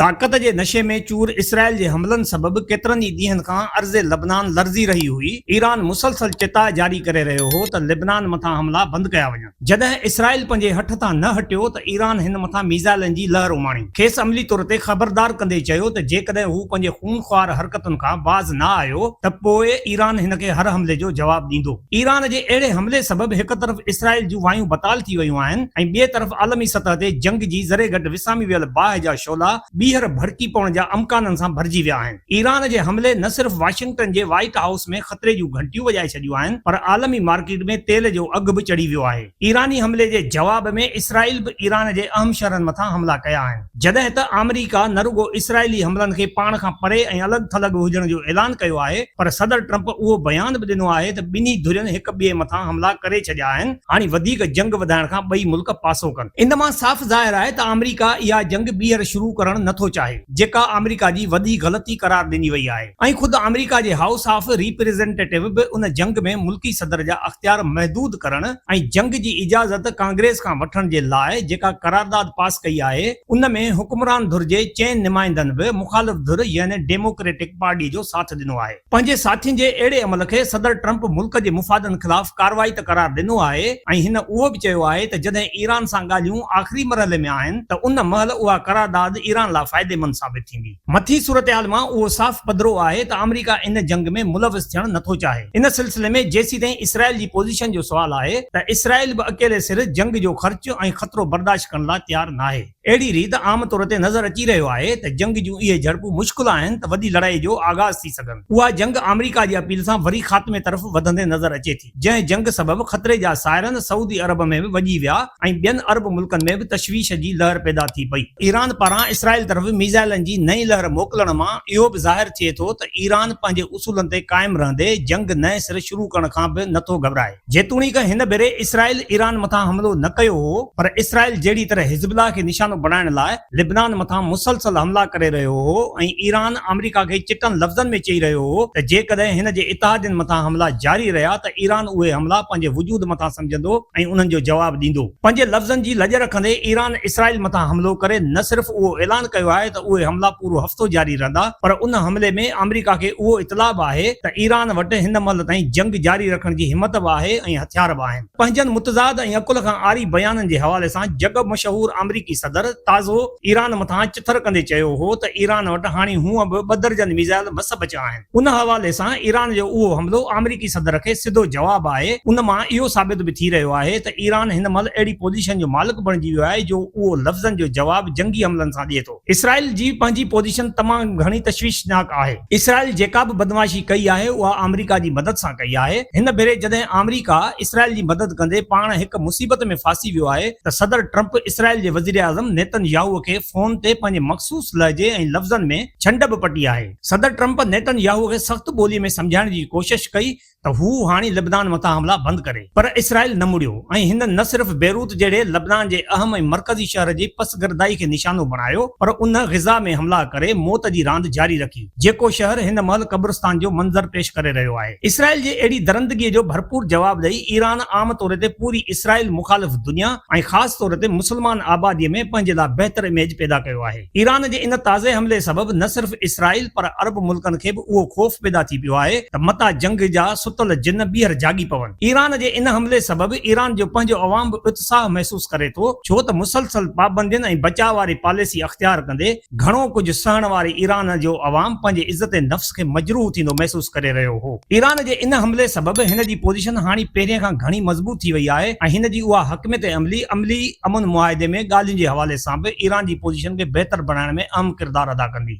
طاقت جي نشي ۾ چور اسرائيل جي حملن سبب ڪيترن ئي ڏينهن کان ارض لبنان لرزي رهي هئي. ايران مسلسل چتاء جاري ڪري رهيو هو ته لبنان مٿان حملا بند ڪيا وڃن. جڏهن اسرائيل پنهنجي هٺ تان نه هٽيو ته ايران هن مٿان ميزائلن جي لهر اماڻي. کيس عملي طور تي خبردار ڪندي چيو ته جيڪڏهن هو پنهنجي خون خوار حرڪتن کان باز نه آيو ته پوء ايران هن کي هر حملي جو جواب ڏيندو. ايران جي اهڙي حملي سبب هڪ طرف اسرائيل جون وايون بتال ٿي ويون آهن ۽ ٻئي طرف عالمي سطح تي جنگ جي ذري گهٽ وسامي ويل باهه جا شعلا ٻيهر ڀڙڪي پوڻ جا امڪانن سان ڀرجي ويا آهن. ايران جي حملي نه صرف واشنگٽن جي وائيٽ هائوس ۾ خطري جون گهنٽيون وڄائي ڇڏيون آهن پر عالمي مارڪيٽ ۾ تيل جو اگهه به چڙهي ويو آهي. ايراني حملي جي جواب ۾ اسرائيل به ايران جي اهم شهرن مٿان حملا ڪيا آهن جڏهن ته آمريڪا نه رڳو اسرائيلي حملن کي پاڻ کان پري ۽ الڳ ٿلڳ هجڻ جو اعلان ڪيو آهي پر صدر ٽرمپ اهو بيان به ڏنو آهي ته ٻنهي ڌرين هڪ ٻئي مٿان حملا ڪري ڇڏيا آهن هاڻي وڌيڪ جنگ وڌائڻ کان ٻئي ملڪ پاسو ڪن. ان مان صاف ظاهر آهي ته آمريڪا اها جنگ ٻيهر شروع ڪرڻ نه ٿو چاهي، جيڪا آمريڪا جي وڏي غلطي قرار ڏني وئي آهي ۽ خود آمريڪا جي هائوس آف ريپريزنٽيٽو به ان جنگ ۾ ملڪي صدر جا اختيار محدود ڪرڻ ۽ جنگ جي اجازت ڪانگريس کان وٺڻ جي لاء جيڪا قرارداد پاس ڪئي آهي، ان ۾ حڪمران ڌر جي چئن نمائندن به مخالف ڌر يعني ڊيموڪريٽڪ پارٽي جو ساٿ ڏنو آهي. پنهنجي ساٿين جي اهڙي عمل کي صدر ٽرمپ ملڪ جي مفادن خلاف ڪارروائي ته قرار ڏنو آهي ۽ هن اهو به چيو آهي ته جڏهن ايران سان ڳالهيون آخري مرحلي ۾ آهن ته ان مهل اها قرارداد ايران لاء فائديمند ثابت ٿيندي. مٿين صورتحال مان اهو صاف پڌرو آهي ته آمريڪا ان جنگ ۾ ملوث ٿيڻ نٿو چاهي. ان سلسلي ۾ جيسيتائين اسرائيل جي پوزيشن جو سوال آهي ته اسرائيل به اڪيلي سر جنگ جو خرچ ۽ خطرو برداشت ڪرڻ لاء تيار ناهي. اهڙي ريت عام طور تي نظر اچي رهيو آهي ته جنگ جون اهي جهڙپون مشڪل آهن ته وڏي لڙائي جو آغاز ٿي سگهن. اها جنگ آمريڪا جي اپيل سان وري خاتمي طرف وڌندي نظر اچي ٿي، جنهن جنگ سبب خطري جا سائرن سعودي عرب ۾ به وڄي ويا ۽ ٻين عرب ملڪن ۾ به تشويش جي لهر پيدا ٿي پئي. ايران پاران اسرائيل طرف ميزائلن جي نئين لهر موڪلڻ مان اهو به ظاهر ٿئي ٿو ته ايران پنهنجي اصولن تي قائم رهندي جنگ نئين سر شروع ڪرڻ کان به نٿو گهٻرائي. جيتوڻيڪ هن ڀيري اسرائيل ايران مٿان حملو نه ڪيو هو پر اسرائيل جهڙي طرح حزب الله کي نشانو بڻائڻ لاء لبنان مٿان مسلسل حملا ڪري رهيو هو ۽ ايران آمريڪا کي چٽن لفظن ۾ چئي رهيو هو ته جيڪڏهن هن جي اتحادين مٿان حملا جاري رهيا ته ايران اهي حملا پنهنجي وجود مٿان سمجهندو ۽ انهن جو جواب ڏيندو. پنهنجي لفظن جي لڄ رکندي ايران اسرائيل مٿان حملو ڪري نه صرف اهو اعلان ڪيو آهي ته اهي حملا پورو هفتو جاري رهندا پر ان حملي ۾ آمريڪا کي اهو اطلاع به آهي ته ايران وٽ هن مهل تائين جنگ جاري رکڻ جي همت به آهي ۽ هٿيار به آهن. پنهنجن متضاد ۽ عقل کان عاري بيانن جي حوالي سان جڳ مشهور آمريڪي صدر تازو ايران مٿان چٿر ڪندي چيو هو ته ايران وٽ هاڻي هونء به ٻه درجن ميزائل مس بچيا آهن. ان حوالي سان ايران جو اهو حملو آمريڪي صدر کي سڌو جواب آهي. ان مان اهو ثابت به ٿي رهيو آهي ته ايران هن مهل اهڙي پوزيشن جو مالڪ بڻجي ويو آهي جو اهو لفظن جو جواب جنگي حملن سان ڏئي ٿو. اسرائيل جي پنهنجي پوزيشن تمام گهڻي تشويشناڪ آهي. اسرائيل جيڪا به بدمعاشي ڪئي آهي اها آمريڪا جي مدد سان ڪئي آهي. هن ڀيري جڏهن آمريڪا اسرائيل جي مدد ڪندي پاڻ هڪ مصيبت ۾ ڦاسي ويو آهي ته صدر ٽرمپ اسرائيل جي وزيراعظم نيتن ياهو کي فون تي پنهنجي مخصوص لهجي ۽ لفظن ۾ ڇنڊ به پٽي آهي. صدر ٽرمپ نيتن ياهو کي سخت ٻولي ۾ سمجهائڻ جي ڪوشش ڪئي ته هو هاڻي لبنان مٿان حملا بند ڪري پر اسرائيل نه مڙيو ۽ هن نه صرف بيروت جهڙي لبنان جي اهم ۽ مرڪزي شهر جي پسگردائي کي نشانو بڻايو پر ان غزه ۾ حملا ڪري موت جي راند جاري رکي جيڪو شهر هن مهل قبرستان جو منظر پيش ڪري رهيو آهي اسرائيل جي اهڙي درندگي جو ڀرپور جواب ڏئي ايران عام طور تي پوري اسرائيل مخالف دنيا ۽ خاص طور تي مسلمان آبادي ۾ پنهنجي لاء بهتر اميج پيدا ڪيو آهي. ايران جي ان تازي حملي سبب نه صرف اسرائيل پر عرب ملڪن کي به اهو خوف پيدا ٿي پيو آهي ته متان جنگ جا ستل جن ٻيهر جاڳي پون. ايران جي ان حملي سبب ايران جو پنهنجو عوام به اتساهه محسوس ڪري ٿو ڇو ته مسلسل پابندين ۽ بچاء واري پاليسي اختيار ڪندي گهڻو ڪجهه سهڻ واري ايران جو عوام پنهنجي عزت نفس کي مجروح ٿيندو محسوس ڪري رهيو هو. ايران جي ان حملي سبب هن جي پوزيشن هاڻي پهرين کان گهڻي مضبوط ٿي وئي آهي ۽ هن جي اها حڪميت عملي عملي امن معاهدي ۾ ڳالهين جي حوالي سان به ايران جي پوزيشن کي بهتر بڻائڻ ۾ اهم ڪردار ادا ڪندي.